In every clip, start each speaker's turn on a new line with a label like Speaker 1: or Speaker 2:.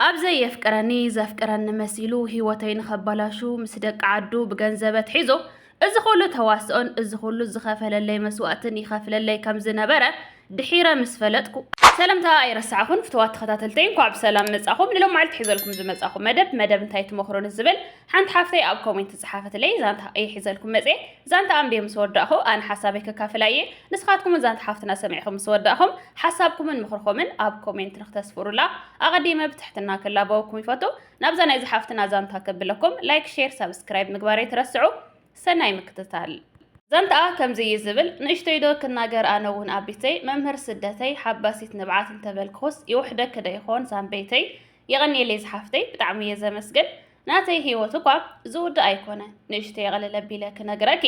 Speaker 1: ኣብ ዘየፍቅረኒ ዘፍቅረኒ መሲሉ ሂወተይ ንኸባላሹ ምስ ደቂ ዓዱ ብገንዘበ ትሒዞ እዚ ኩሉ ተዋስኦን እዚ ኩሉ ዝኸፈለለይ መስዋእትን ይኸፍለለይ ከም ዝነበረ ድሒረ ምስ ፈለጥኩ ሰለምታ ኣይረሳዕኹን ፍቱዋት ተኸታተልተይ እንኳዕ ብሰላም መጻኹም ንሎማዓልቲ ሒዘልኩም ዝመጻኹ መደብ መደብ እንታይ ትመኽሩኒ ዝብል ሓንቲ ሓፍተይ ኣብ ኮሜንት ዝጸሓፈትለይ ዛንታ እየ ሒዘልኩም መጽየ ዛንታ ኣንብየ ምስ ወዳእኹ ኣነ ሓሳበይ ከካፍላ እየ ንስኻትኩምን ዛንታ ሓፍትና ሰሚዕኹም ምስ ወዳእኹም ሓሳብኩምን ምኽርኹምን ኣብ ኮሜንት ንክተስፍሩላ ኣቐዲመ ብትሕትና ክላበወኩም ይፈቱ ናብዛ ናይዚ ሓፍትና ዛንታ ከብለኩም ላይክ ሼር ሳብስክራይብ ምግባር ኣይትረስዑ ሰናይ ምክትታል ዛንታኣ ከምዚ እዩ ዝብል ንእሽተይ ዶ ክናገር ኣነ እውን ኣቢተይ መምህር ስደተይ ሓባሲት ንብዓት እንተበልክኹስ ይውሕደኪ ዶ ይኾን ዛንበይተይ የቐንየለይ ዝሓፍተይ ብጣዕሚ እየ ዘመስግን ናተይ ሂወት እኳ ዝውዳእ ኣይኮነ ንእሽተይ ቕልል ኣቢለ ክነግረኪ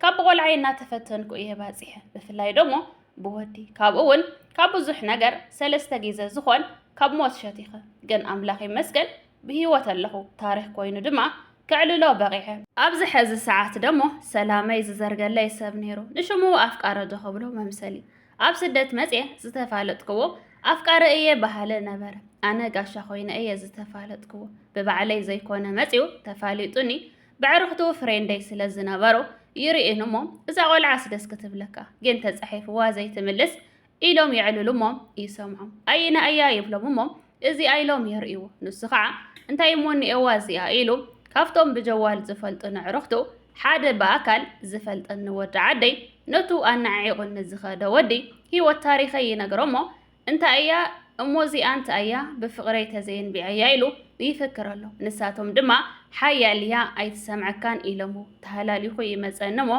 Speaker 1: ካብ ብቖልዓይ እናተፈተንኩ እየ ባፂሐ ብፍላይ ደሞ ብወዲ ካብኡ እውን ካብ ብዙሕ ነገር ሰለስተ ግዘ ዝኾን ካብ ሞት ሸቲኸ ግን ኣምላኽ ይመስገን ብሂወት ኣለኹ ታሪኽ ኮይኑ ድማ ከዕልሎ በቒዐ ኣብዚ ሐዚ ሰዓት ደሞ ሰላመይ ዝዘርገለይ ሰብ ነይሩ ንሽሙ ኣፍቃሪ ዶ ክብሎ መምሰል እዩ ኣብ ስደት መጽየ ዝተፋለጥክዎ ኣፍቃሪ እየ በሃሊ ነበረ። ኣነ ጋሻ ኮይነ እየ ዝተፋለጥክዎ። ብባዕለይ ዘይኮነ መጽዩ ተፋሊጡኒ በዕርኽቱ ፍሬንደይ ስለ ዝነበሩ ይርእዩኒ እሞ እዛ ቆልዓስ ደስ ክትብለካ ግን ተጻሒፍዋ ዘይትምልስ ኢሎም የዕልሉ እሞ ይሰምዖም። ኣይና እያ ይብሎም እሞ እዚኣ ኢሎም የርእይዎ። ንሱ ኸዓ እንታይ እሞ እኒኤዋ እዚኣ ኢሉ ካብቶም ብጀዋል ዝፈልጡኒ ኣዕሩኽቱ ሓደ ብኣካል ዝፈልጠኒ ወዲ ዓደይ ነቱ ኣነዓዒቑኒ ዝኸደ ወዲ ህይወት ታሪኸይ ይነግሮ'ሞ እንታይ እያ እሞ እዚኣ እንታይ እያ ብፍቕረይ ተዘየንቢዐያ ኢሉ ይፍክር ኣሎ። ንሳቶም ድማ ሓያል እያ ኣይትሰምዐካን ኢሎምዎ ተሃላሊኹ ይመጸኒ'ሞ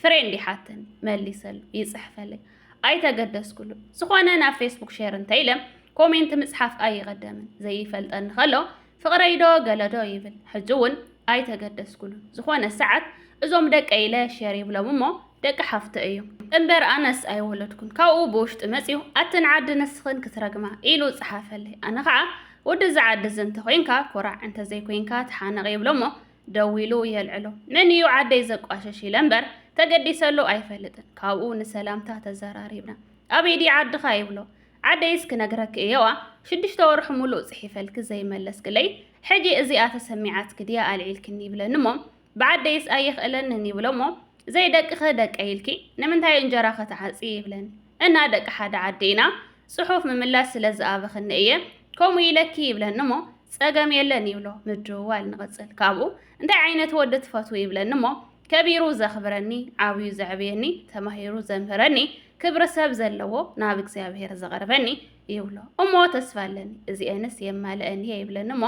Speaker 1: ፍሬንዲ ሓተኒ መሊሰሉ ይጽሕፈለይ ኣይተገደስኩሉን ዝኾነ ናብ ፌስቡክ ሼር እንተኢለ ኮሜንት ምጽሓፍ ኣይቐደምን ዘይፈልጠኒ ከሎ ፍቕረይዶ ገለዶ ይብል ሕጂ እውን ኣይተገደስኩሉን ዝኾነ ሰዓት እዞም ደቀ ኢለ ሼር ይብሎም እሞ ደቂ ሓፍቶ እዮም እምበር ኣነስ ኣይወለድኩን ካብኡ ብውሽጢ መጽዩ ኣትን ዓዲ ንስኽን ክትረግማ ኢሉ ጽሓፈለይ ኣነ ከዓ ወደዚ ዓዲ እዚ እንተኮይንካ ኮራዕ እንተዘይኮይንካ ተሓነቕ ይብሎ እሞ ደዊሉ የልዕሎ። መን እዩ ዓደይ ዘቋሸሽ ኢለ እምበር ተገዲሰሉ ኣይፈልጥን። ካብኡ ንሰላምታ ተዘራሪብና። ኣበይ ድዩ ዓድኻ ይብሎ። ዓደይስ ክነግረኪ እየዋ ሽዱሽተ ወርሑ ሙሉእ ጽሒፈልኪ ዘይመለስክለይ ሕጂ እዚኣ ተሰሚዓትኪ ድያ ኣልዒልክኒ ይብለኒ እሞ ብዓደይስ ኣይኽእለንን ይብሎ እሞ ዘይደቅኸ ደቀይ ኢልኪ ንምንታይ እንጀራኸ ትዓጽዪ ይብለኒ። እና ደቂ ሓደ ዓዲ ኢና ጽሑፍ ምምላስ ስለ ዝኣበኽኒ እየ ከምኡ ኢለኪ ይብለኒ እሞ ጸገም የለን ይብሎ ምድውዋል ንቕጽል ካብኡ እንታይ ዓይነት ወዲ ትፈትው ይብለኒ እሞ ከቢሩ ዘኽብረኒ ዓብዩ ዘዕብየኒ ተማሂሩ ዘምህረኒ ክብሪ ሰብ ዘለዎ ናብ እግዚኣብሔር ዘቐርበኒ ይብሎ እሞ ተስፋ ኣለኒ እዚኤንስ የማልአን እየ ይብለኒ እሞ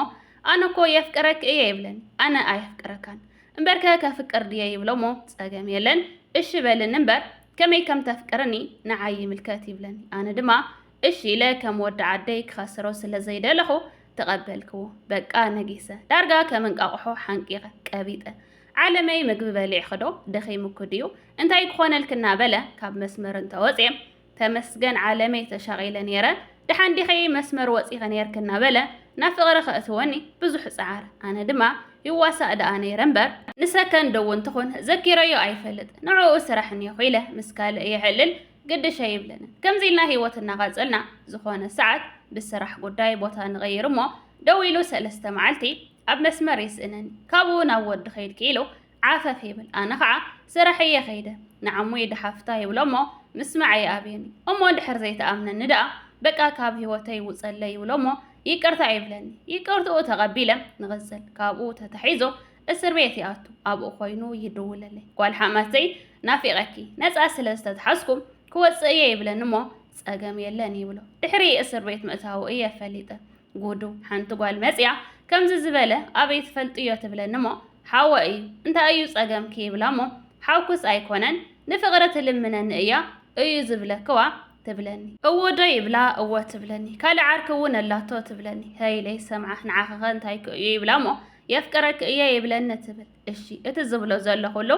Speaker 1: ኣነ እኮ የፍቅረክ እየ ይብለኒ ኣነ ኣየፍቅረካን እምበርከ ከፍቅር ድየ ይብሎ እሞ ጸገም የለን እሺ በልኒ እምበር ከመይ ከም ተፍቅርኒ ንዓይ ይምልከት ይብለኒ። ኣነ ድማ እሺ ኢለ ከም ወዲ ዓደይ ክኸስሮ ስለ ዘይደለኹ ተቐበልክዎ። በቃ ነጊሰ። ዳርጋ ከም እንቃቑሖ ሓንቂቐ፣ ቀቢጠ። ዓለመይ ምግቢ በሊዕኺ'ዶ? ደኺሙኪ ድዩ? እንታይ ክኾነልኪ እናበለ ካብ መስመር እንተወጽየ፣ ተመስገን ዓለመይ ተሻቒለ ኔረ፣ ደሓን ዲኺ መስመር ወጺኺ ኔርኪ እናበለ ናብ ፍቕሪ ከእትወኒ ብዙሕ ጸዓር። ኣነ ድማ ይዋሳእ ደኣ ነይረ እምበር፣ ንሰከንድ እውን ትኹን ዘኪረዮ ኣይፈልጥ፣ ንዕኡ ስራሕ እኒኦኹ ኢለ ምስ ካልእ የዕልል ግድሽ ኣይብለንን። ከምዚ ኢልና ህይወት እናቐጸልና ዝኾነ ሰዓት ብስራሕ ጉዳይ ቦታ ንቕይር እሞ ደዊሉ ሰለስተ መዓልቲ ኣብ መስመር ይስእነኒ። ካብኡ ናብ ወዲ ከይድኪ ኢሉ ዓፈፍ ይብል ኣነ ኸዓ ስራሕ እየ ከይደ ንዓሙ ይድሓፍታ ይብሎ እሞ ምስማዕ ይኣብየኒ እሞ እንድሕር ዘይትኣምነኒ ደኣ በቃ ካብ ሂወተይ ውፀለይ ይብሎ እሞ ይቅርታ ይብለኒ ይቅርትኡ ተቀቢለ ንቅፅል ካብኡ ተታሒዞ እስር ቤት ይኣቱ ኣብኡ ኮይኑ ይድውለለይ ጓል ሓማተይ ናፊቀኪ ነፃ ስለ ዝተትሓዝኩ ክወፅእ እየ ይብለኒ እሞ ፀገም የለን ይብሎ ድሕሪ እስር ቤት ምእታዉ እየ ፈሊጠ ጉዱ ሓንቲ ጓል መጽያ ከምዚ ዝበለ ኣበይ ትፈልጥዮ ትብለኒ እሞ ሓወ እዩ እንታይ እዩ ጸገምኪ ይብላ እሞ ሓውክስ ኣይኮነን ንፍቕሪ ትልምነኒ እያ እዩ ዝብለክዋ ትብለኒ እወዶ ይብላ እወ ትብለኒ ካልእ ዓርኪ እውን ኣላቶ ትብለኒ ሀይለይ ሰምዓ ንዓኸኸ እንታይክ እዩ ይብላ እሞ የፍቅረክ እየ ይብለኒ ትብል እሺ እቲ ዝብሎ ዘሎ ኩሉ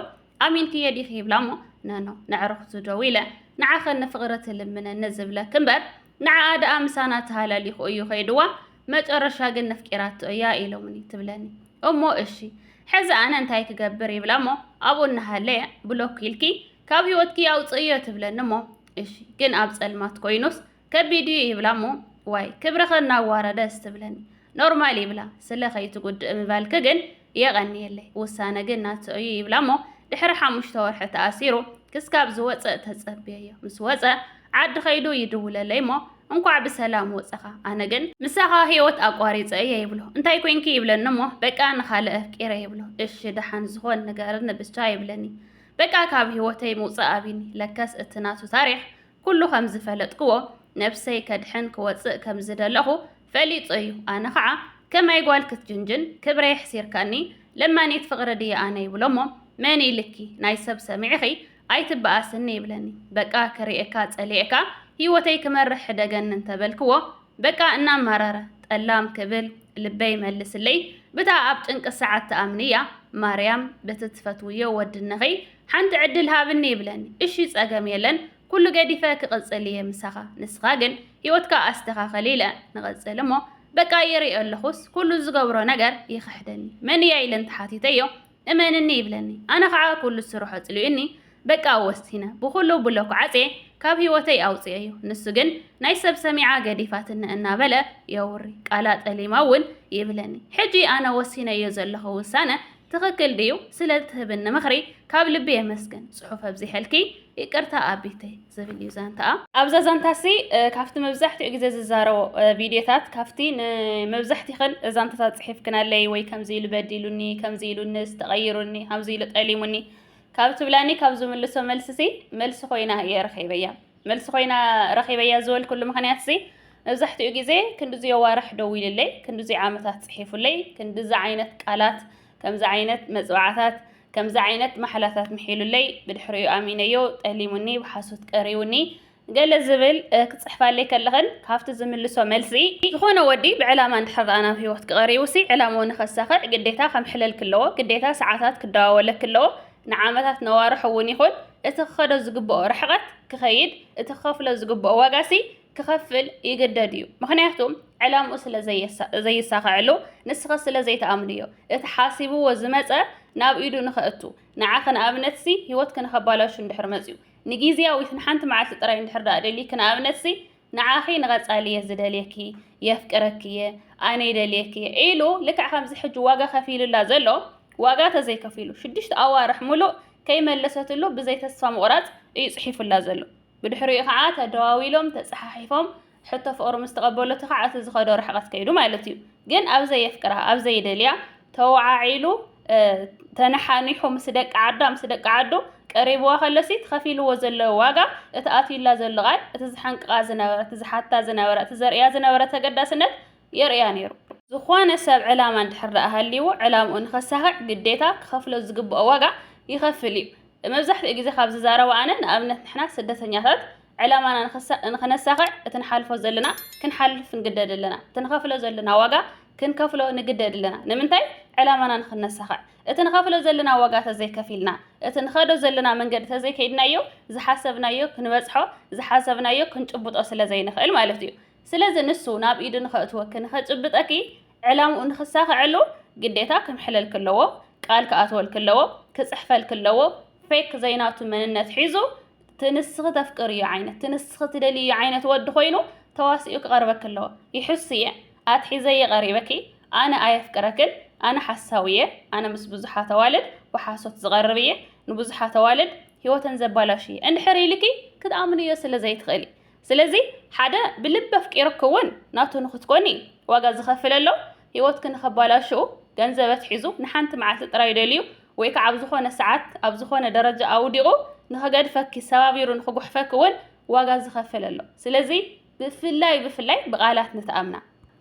Speaker 1: ኣሚንክዬ ዲኺ ይብላ እሞ ነኖ ነዕርኽቱ ደው ኢለ ንዓኸን ንፍቕሪ ትልምነኒ ዝብለኪ እምበር ንዓኣ ደኣ ምሳና ተሃላሊኹ እዩ ከይድዋ መጨረሻ ግን ነፍቂራቶ እያ ኢሎምኒ ትብለኒ እሞ እሺ ሕዚ ኣነ እንታይ ክገብር ይብላ እሞ ኣብኡ እናሃለየ ብሎክ ኢልኪ ካብ ህይወትኪ ኣውፅእዮ ትብለኒ እሞ እሺ ግን ኣብ ፀልማት ኮይኑስ ከቢድ እዩ ይብላ እሞ ዋይ ክብርኸ እናዋረደስ ትብለኒ ኖርማል ይብላ ስለ ከይትጉድእ ምባልኪ ግን የቐንየለይ ውሳነ ግን ናቱ እዩ ይብላ እሞ ድሕሪ ሓሙሽተ ወርሒ ተኣሲሩ ክስካብ ዝወፅእ ተፀብየዮ ምስ ወፀ ዓዲ ከይዱ ይድውለለይ እሞ እንኳዕ ብሰላም ወፀኻ ኣነ ግን ምሳኻ ህይወት ኣቋሪፀ እየ ይብሎ እንታይ ኮንኪ ይብለኒ እሞ በቃ ንኻልእ ኣፍቂረ ይብሎ እሺ ደሓን ዝኾን ንገርኒ ብቻ ይብለኒ በቃ ካብ ህይወተይ ምውፃእ ኣብኒ ለከስ እቲ ናቱ ታሪክ ኩሉ ከም ዝፈለጥክዎ ነብሰይ ከድሕን ክወጽእ ከም ዝደለኹ ፈሊጡ እዩ ኣነ ኸኣ ከማይ ጓል ክትጅንጅን ክብረይ ኣሕሲርካኒ ለማኒት ፍቅሪ ድየ ኣነ ይብሎሞ መን ኢልኪ ናይ ሰብ ሰሚዕኺ ኣይትበኣስኒ ይብለኒ በቃ ክሪኤካ ጸሊኤካ ሂወተይ ክመርሕ ሕደገኒ እንተ በልክዎ በቃ እናማረረ ጠላም ክብል ልበይ መልስለይ ብታ ኣብ ጭንቂ ሰዓት ትኣምንያ ማርያም ብቲ ትፈትውዮ ወዲ እንኺ ሓንቲ ዕድል ሃብኒ ይብለኒ እሺ ጸገም የለን ኩሉ ገዲፈ ክቅጽል ኢየ ምሳኻ ንስኻ ግን ሂወትካ ኣስተኻኽል ኢለ ንቅጽል እሞ በቃ ይሪኦ ኣለኹስ ኩሉ ዝገብሮ ነገር ይኽሕደኒ መን ኢያ ኢለ እንተሓቲተዮ እመንኒ ይብለኒ ኣነ ኻዓ ኩሉ ዝስርሖ ኣጽሊኡኒ በቃ ወሲነ ብኹሉ ብሎክ ዓጽየ ካብ ሂወተይ ኣውጽኤዮ ንሱ ግን ናይ ሰብ ሰሚዓ ገዲፋትኒ እናበለ የውሪ ቃላ ጠሊማ ውን ይብለኒ ሕጂ ኣነ ወሲነዮ ዘለኹ ውሳነ ትክክል ድዩ ስለ እትህብኒ ምክሪ ካብ ልቢ የመስግን ጽሑፍ ኣብዚሐልኪ ይቅርታ ኣቢተይ ዝብል እዩ ዛንታኣ። ኣብዛ ዛንታሲ ካብቲ መብዛሕትኡ ግዜ ዝዛረቦ ቪድዮታት ካብቲ ንመብዛሕቲኽን ዛንታታት ጽሒፍክናለይ ወይ ከምዚ ኢሉ በዲሉኒ ከምዚ ኢሉንስ ተቐይሩኒ ከምዚ ኢሉ ጠሊሙኒ ካብ ትብላኒ ካብ ዝምልሶ መልስሲ መልሲ ኮይና እየ ረኺበያ። መልሲ ኮይና ረኺበያ ዝበልኩሉ ምኽንያትሲ መብዛሕትኡ ግዜ ክንድዚ የዋርሕ ደዊልለይ፣ ክንድዚ ዓመታት ጽሒፉለይ፣ ክንድዚ ዓይነት ቃላት፣ ከምዚ ዓይነት መጽብዓታት፣ ከምዚ ዓይነት ማሕላታት ምሒሉለይ፣ ብድሕሪኡ ኣሚነዮ፣ ጠሊሙኒ፣ ብሓሶት ቀሪቡኒ፣ ገለ ዝብል ክጽሕፋለይ ከለኽን ካብቲ ዝምልሶ መልሲ፣ ዝኾነ ወዲ ብዕላማ እንድሕር ደኣ ናብ ህይወትኪ ቀሪቡሲ፣ ዕላምኡ ንኸሳኽዕ ግዴታ ከምሕለልኪ ኣለዎ፣ ግዴታ ሰዓታት ክደዋወለኪ ኣለዎ፣ ንዓመታት ነዋርሑ እውን ይኹን እቲ ክኸዶ ዝግብኦ ርሕቐት ክኸይድ እቲ ክኸፍሎ ዝግብኦ ዋጋሲ ክኸፍል ይግደድ እዩ። ምኽንያቱ ዕላምኡ ስለ ዘይሳኸዐሉ ንስኸ ስለ ዘይትኣምንዮ። እቲ ሓሲብዎ ዝመጸ ናብ ኢዱ ንኸእቱ ንዓኺ ንኣብነትሲ ህይወትኪ ንኸባላሹ እንድሕር መጺኡ ንጊዝያዊት ንሓንቲ መዓልቲ ጥራይ እንድሕር ደኣ ደሊኪ ንኣብነትሲ ንዓኺ ንቐጻሊ እየ ዝደልየኪ፣ የፍቅረኪ እየ፣ ኣነ ይደልየኪ እየ ኢሉ ልክዕ ከምዚ ሕጂ ዋጋ ከፊሉላ ዘሎ ዋጋ ተዘይከፊሉ ሽዱሽተ ኣዋርሕ ሙሉእ ከይመለሰትሉ ብዘይ ተስፋ ምቑራጽ እዩ ጽሒፉላ ዘሎ። ብድሕሪኡ ከዓ ተደዋዊሎም ተጸሓሒፎም ሕቶ ፍቕሩ ምስ ተቐበለቱ ከዓ እቲ ዝኸዶ ርሕቐት ከይዱ ማለት እዩ። ግን ኣብዘይ የፍቅራ ኣብዘይ ይደልያ ተወዓዒሉ ተነሓኒሑ ምስ ደቂ ዓዳ ምስ ደቂ ዓዱ ቀሪብዋ ከለሲ ትኸፊልዎ ዘሎ ዋጋ እቲ ኣትዩላ ዘሎ ቃል እቲ ዝሓንቅቓ ዝነበረ እቲ ዝሓታ ዝነበረ እቲ ዘርእያ ዝነበረ ተገዳስነት የርእያ ነይሩ። ዝኾነ ሰብ ዕላማ እንድሕር ደኣ ሃልይዎ ዕላምኡ ንኸሳኽዕ ግዴታ ክኸፍሎ ዝግብኦ ዋጋ ይኸፍል እዩ። መብዛሕትኡ ግዜ ካብ ዝዛረቦ ኣነ ንኣብነት ንሕና ስደተኛታት ዕላማና ንኸነሳኽዕ እቲ ንሓልፎ ዘለና ክንሓልፍ ንግደድ ኣለና። እቲ ንኸፍሎ ዘለና ዋጋ ክንከፍሎ ንግደድ ኣለና። ንምንታይ? ዕላማና ንኽነሳኽዕ። እቲ ንኸፍሎ ዘለና ዋጋ ተዘይከፊልና፣ እቲ ንኸዶ ዘለና መንገዲ ተዘይከይድናዮ ዝሓሰብናዮ ክንበጽሖ፣ ዝሓሰብናዮ ክንጭብጦ ስለዘይንኽእል ማለት እዩ። ስለዚ ንሱ ናብ ኢዱ ንኸእትወኪ፣ ንኸጭብጠኪ፣ ዕላምኡ ንኽሳኽዐሉ ግዴታ ክምሕለልኪ ኣለዎ፣ ቃል ክኣትወልኪ ኣለዎ፣ ክጽሕፈልኪ ኣለዎ፣ ፌክ ዘይናቱ መንነት ሒዙ ትንስኺ ተፍቅርዮ ዓይነት ትንስኺ ትደልዩ ዓይነት ወዲ ኮይኑ ተዋሲኡ ክቐርበኪ ኣለዎ ይሕሱ እየ ኣትሒዘየ ቀሪበኪ ኣነ ኣየፍቅረክን ኣነ ሓሳዊ እየ ኣነ ምስ ብዙሓት ኣዋልድ ብሓሶት ዝቐርብ እየ ንብዙሓት ኣዋልድ ህይወተን ዘባላሽ እየ እንድሕር ኢልኪ ክትኣምንዮ ስለ ዘይትኽእሊ ስለዚ ሓደ ብልቢ ኣፍቂሩኪ እውን ናቱ ንክትኮኒ ዋጋ ዝኸፍል ኣሎ ህይወትኪ ንኸባላሽው ገንዘብ ኣትሒዙ ንሓንቲ መዓልቲ ጥራይ ደልዩ ወይ ከኣ ኣብ ዝኾነ ሰዓት ኣብ ዝኾነ ደረጃ ኣውዲቑ ንኸገድፈኪ ሰባቢሩ ንኽጉሕፈኪ እውን ዋጋ ዝኸፍል ኣሎ። ስለዚ ብፍላይ ብፍላይ ብቓላት ንተኣምና።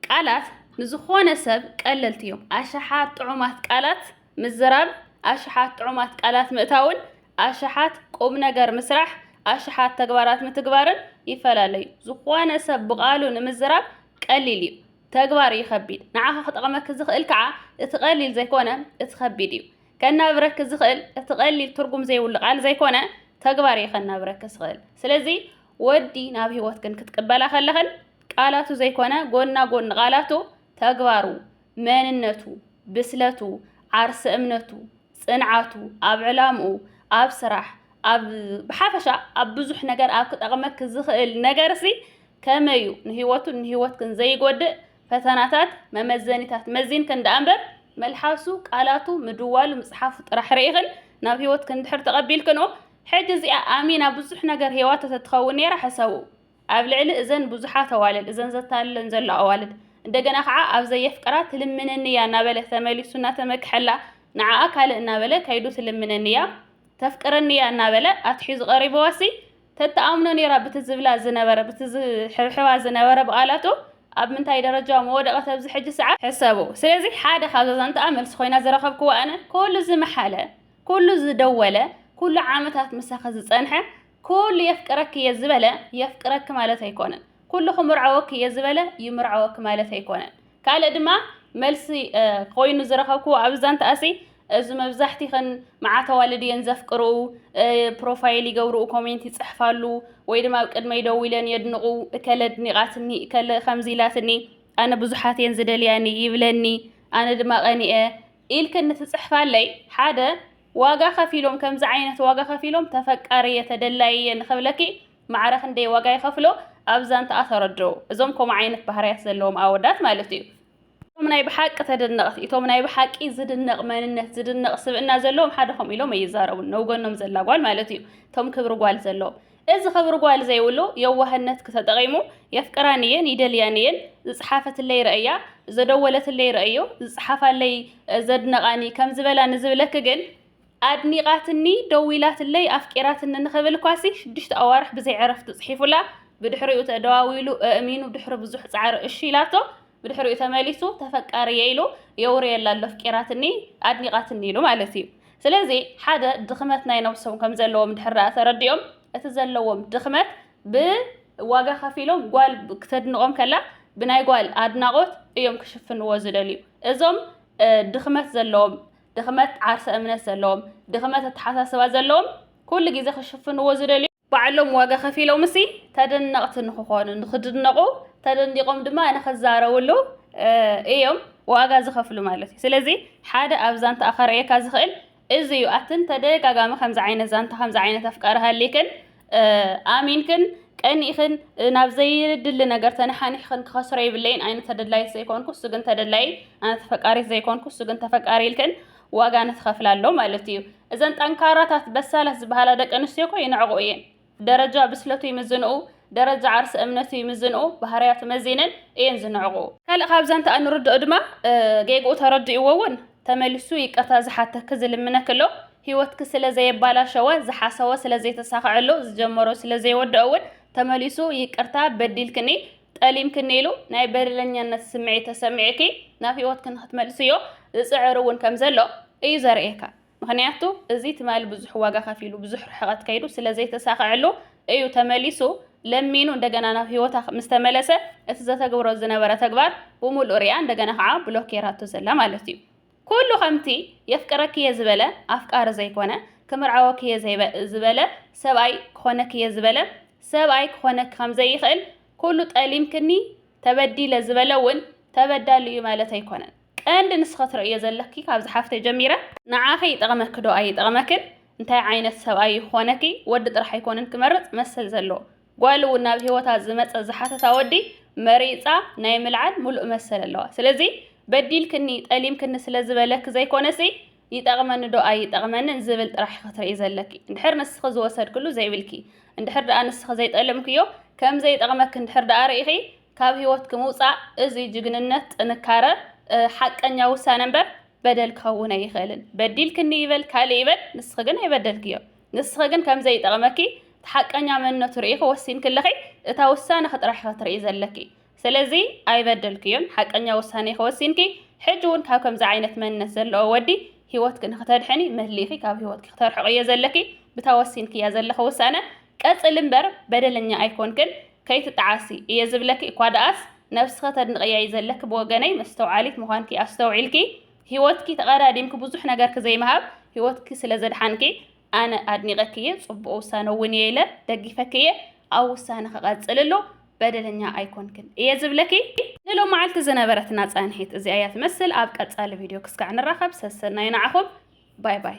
Speaker 1: ቃላት ንዝኾነ ሰብ ቀለልቲ እዮም። ኣሽሓት ጥዑማት ቃላት ምዝራብ፣ ኣሽሓት ጥዑማት ቃላት ምእታውን ኣሽሓት ቁም ነገር ምስራሕ፣ ኣሽሓት ተግባራት ምትግባርን ይፈላለ እዩ። ዝኾነ ሰብ ብቓሉ ንምዝራብ ቀሊል እዩ። ተግባር እዩ ከቢድ። ንዓኻ ክጠቕመኪ ዝኽእል ከኣ እቲ ቀሊል ዘይኮነ እቲ ከቢድ እዩ። ከናብረኪ ዝኽእል እቲ ቀሊል ትርጉም ዘይብሉ ቃል ዘይኮነ ተግባር እዩ ከናብረኪ ዝኽእል። ስለዚ ወዲ ናብ ህይወትክን ክትቅበላ ከለኽን ቃላቱ ዘይኮነ ጎና ጎኒ ቃላቱ ተግባሩ፣ መንነቱ፣ ብስለቱ፣ ዓርሰ እምነቱ፣ ጽንዓቱ፣ ኣብ ዕላምኡ፣ ኣብ ስራሕ፣ ኣብ ብሓፈሻ ኣብ ብዙሕ ነገር ኣብ ክጠቕመኪ ዝኽእል ነገርሲ ከመይ እዩ ንህይወቱን ንህይወትክን ዘይጎድእ ፈተናታት መመዘኒታት መዚንክን ደኣ እምበር መልሓሱ፣ ቃላቱ፣ ምድዋሉ፣ ምጽሓፉ ጥራሕ ርኢኽን ናብ ህይወትክን እንድሕር ተቐቢልክንኦ ሕጂ እዚኣ ኣሚና ብዙሕ ነገር ሄዋቶ ተትኸውን ነይራ ሕሰቡ። ኣብ ልዕሊ እዘን ብዙሓት ኣዋልድ እዘን ዘታልለን ዘሎ ኣዋልድ እንደገና ከዓ ኣብ ዘየፍቅራ ትልምነኒ እያ እናበለ ተመሊሱ እናተመክሐላ ንዓኣ ካልእ እናበለ ከይዱ ትልምነኒ እያ ተፍቅረኒ እያ እናበለ ኣትሒዙ ቀሪበዋሲ ተተኣምኖ ነይራ ብቲ ዝብላ ዝነበረ ብቲ ዝሕብሕባ ዝነበረ ብቓላቱ ኣብ ምንታይ ደረጃ መወደቐት ኣብዚ ሕጂ ሰዓት ሕሰቡ ስለዚ ሓደ ካብ ዘዛንትኣ መልሲ ኮይና ዝረኸብክዋ ኣነ ኩሉ ዝመሓለ ኩሉ ዝደወለ ኩሉ ዓመታት ምሳኺ ዝፀንሐ ኩሉ የፍቅረኪ እየ ዝበለ የፍቅረኪ ማለት ኣይኮነን። ኩሉ ክምርዓወኪ እየ ዝበለ ይምርዓወኪ ማለት ኣይኮነን። ካልእ ድማ መልሲ ኮይኑ ዝረኸብኩዎ ኣብ ዛንታኣሲ እዚ መብዛሕቲኽን መዓት ኣዋልድ እየን ዘፍቅርኡ ፕሮፋይል ይገብርኡ ኮሜንት ይፅሕፋሉ ወይ ድማ ኣብ ቅድመይ ደው ኢለን የድንቑ እከለ ኣድኒቓትኒ እከለ ከምዚ ኢላትኒ ኣነ ብዙሓት እየን ዝደልያኒ ይብለኒ ኣነ ድማ ቀኒኤ ኢልክን ንትፅሕፋለይ ሓደ ዋጋ ከፊሎም ከምዚ ዓይነት ዋጋ ከፊሎም ተፈቃሪ እየ ተደላይ እየ ንክብለኪ ማዕረ ክንደይ ዋጋ ይከፍሎ ኣብ ዛንትኣ ተረድኡ እዞም ከምኡ ዓይነት ባህርያት ዘለዎም ኣወዳት ማለት እዩ። እቶም ናይ ብሓቂ ተደነቕቲ እቶም ናይ ብሓቂ ዝድነቕ መንነት ዝድነቕ ስብእና ዘለዎም ሓደ ከምኡ ኢሎም ኣይዛረቡን ነውገኖም ዘላ ጓል ማለት እዩ እቶም ክብሪ ጓል ዘለዎም እዚ ክብሪ ጓል ዘይብሉ የዋህነት ክተጠቒሙ የፍቅራን እየን ይደልያን እየን ዝጸሓፈትለይ ረእያ ዘደወለትለይ ረእዮ ዝጸሓፋለይ ዘድነቓኒ ከም ዝበላ ንዝብለኪ ግን ኣድኒቓትኒ ደዊላትለይ ኣፍቂራትኒ ንኽብል ኳሲ ሽዱሽተ ኣዋርሕ ብዘይ ዕረፍቲ ጽሒፉላ ብድሕሪኡ ተደዋዊሉ እእሚኑ ድሕሪ ብዙሕ ጻዕሪ እሺ ኢላቶ ብድሕሪኡ ተመሊሱ ተፈቃርየ ኢሉ የውርየላ ኣሎ ኣፍቂራትኒ ኣድኒቓትኒ ኢሉ ማለት እዩ ስለዚ ሓደ ድኽመት ናይ ነብሶም ከም ዘለዎም ድሕር ደኣ ተረዲኦም እቲ ዘለዎም ድኽመት ብዋጋ ከፊሎም ጓል ክተድንቖም ከላ ብናይ ጓል ኣድናቖት እዮም ክሽፍንዎ ዝደልዩ እዞም ድኽመት ዘለዎም ድኽመት ዓርሰ እምነት ዘለዎም ድኽመት ኣተሓሳስባ ዘለዎም ኩሉ ግዜ ክሽፍንዎ ዝደልዩ ባዕሎም ዋጋ ከፊሎምሲ ተደነቕቲ ንክኾኑ ንክድነቑ ተደኒቖም ድማ ንክዛረብሉ እዮም ዋጋ ዝኸፍሉ ማለት እዩ። ስለዚ ሓደ ኣብ ዛንታኣ ከርእየካ ዝኽእል እዚ እዩ። ኣትን ተደጋጋሚ ከምዚ ዓይነት ዛንታ ከምዚ ዓይነት ኣፍቃሪ ሃሊክን ኣሚንክን ቀኒእኽን ናብ ዘይድሊ ነገር ተነሓኒሕኽን ክኸስሮ ይብለይን ኣይነ ተደላይት ዘይኮንኩ እሱ ግን ተደላይ ኣነ ተፈቃሪት ዘይኮንኩ እሱ ግን ተፈቃሪ ኢልክን ዋጋ ንትኸፍላ ኣሎ ማለት እዩ። እዘን ጠንካራታት በሳላት ዝበሃላ ደቂ ኣንስትዮ እኮ ይንዕቑ እየን። ደረጃ ብስለቱ ይምዝንኡ፣ ደረጃ ዓርሰ እምነቱ ይምዝንኡ፣ ባህርያቱ መዚነን እየን ዝንዕቑ። ካልእ ካብ ዛንትኣ እንርድኦ ድማ ጌግኡ ተረዲእዎ እውን ተመሊሱ ይቅርታ ዝሓተኪ ዝልምነኪ ኣሎ። ህይወትኪ ስለ ዘየባላሸወ፣ ዝሓሰቦ ስለ ዘይተሳኸዐሉ፣ ዝጀመሮ ስለ ዘይወደኦ እውን ተመሊሱ ይቅርታ በዲልክኒ፣ ጠሊምክኒ ኢሉ ናይ በደለኛነት ስምዒት ተሰሚዑኪ ናብ ሂወትኪ ንክትመልስዮ ዝጽዕር እውን ከም ዘሎ እዩ ዘርእየካ ምክንያቱ እዚ ትማሊ ብዙሕ ዋጋ ከፊሉ ብዙሕ ርሕቀት ከይዱ ስለ ዘይተሳከዐሉ እዩ ተመሊሱ ለሚኑ እንደገና ናብ ሂወታ ምስ ተመለሰ እቲ ዘተግብሮ ዝነበረ ተግባር ብምሉእ ሪኣ እንደገና ከዓ ብሎክ ጌራቶ ዘላ ማለት እዩ ኩሉ ከምቲ የፍቅረኪ'የ ዝበለ ኣፍቃሪ ዘይኮነ፣ ክምርዓወኪ'የ ዝበለ ሰብኣይ ክኾነኪ'የ ዝበለ ሰብኣይ ክኾነኪ ከምዘይኽእል፣ ኩሉ ጠሊምክኒ ተበዲለ ዝበለ'ውን ተበዳሊ'ዩ ማለት ኣይኮነን። ቀንዲ ንስኺ ትርእዮ ዘለኪ ካብዛ ሓፍተይ ጀሚረ፣ ንዓኺ ይጠቕመኪ'ዶ ኣይጠቕመክን፣ እንታይ ዓይነት ሰብኣይ'ዩ ክኾነኪ፣ ወዲ ጥራሕ ኣይኮነን ክመርጽ መሰል ዘለዎ። ጓል እውን ናብ ሂወታ ዝመጸ ዝሓተታ ወዲ መሪጻ ናይ ምልዓል ምሉእ መሰል ኣለዋ ስለዚ በዲልክኒ ጠሊምክኒ ስለ ዝበለኪ ዘይኮነሲ ይጠቕመኒ ዶ ኣይጠቕመንን ዝብል ጥራሕ ኢኺ ትርእይ ዘለኪ እንድሕር ንስኺ ዝወሰድክሉ ዘይብልኪ እንድሕር ደኣ ንስኺ ዘይጠለምክዮ ከም ዘይጠቕመኪ እንድሕር ደኣ ርኢኺ ካብ ሂወትኪ ምውጻእ እዚ ጅግንነት ጥንካረ ሓቀኛ ውሳነ እምበር በደል ክኸውን ኣይኽእልን በዲልክኒ ይበል ካልእ ይበል ንስኺ ግን ኣይበደልክዮን ንስኺ ግን ከም ዘይጠቕመኪ እቲ ሓቀኛ መንነቱ ርኢኺ ወሲንኪ ኣለኺ፣ እታ ውሳነኺ ጥራሕ ኢኺ ትርእዪ ዘለኪ። ስለዚ ኣይበደልክዮን፣ ሓቀኛ ውሳኔኺ ወሲንኪ፣ ሕጂ እውን ካብ ከምዚ ዓይነት መንነት ዘሎኦ ወዲ ህይወትኪ ንኽተድሕኒ መሊኺ ካብ ህይወትኪ ክተርሕቕዮ ዘለኪ ብታ ወሲንክያ ዘለኺ ውሳነ ቀጽሊ እምበር በደለኛ ኣይኮንክን ከይትጠዓሲ እየ ዝብለኪ እኳ ደኣስ ነብስኺ ተድንቕያ እዩ ዘለኪ ብወገነይ መስተውዓሊት ምዃንኪ ኣስተውዒልኪ ሂወትኪ ተቀዳዲምኪ ብዙሕ ነገርኪ ዘይምሃብ ሂወትኪ ስለ ዘድሓንኪ ኣነ ኣድኒቀኪ እየ ጽቡቅ ውሳነ እውን እየ ኢለ ደጊፈኪ እየ ኣብ ውሳነኪ ቀጽልሉ በደለኛ ኣይኮንክን እየ ዝብለኪ ንሎም መዓልቲ ዝነበረትና ጻንሒት እዚኣ እያ ትመስል ኣብ ቀጻሊ ቪድዮ ክስካዕ ንራኸብ ሰሰናዩ ንዓኹም ባይ ባይ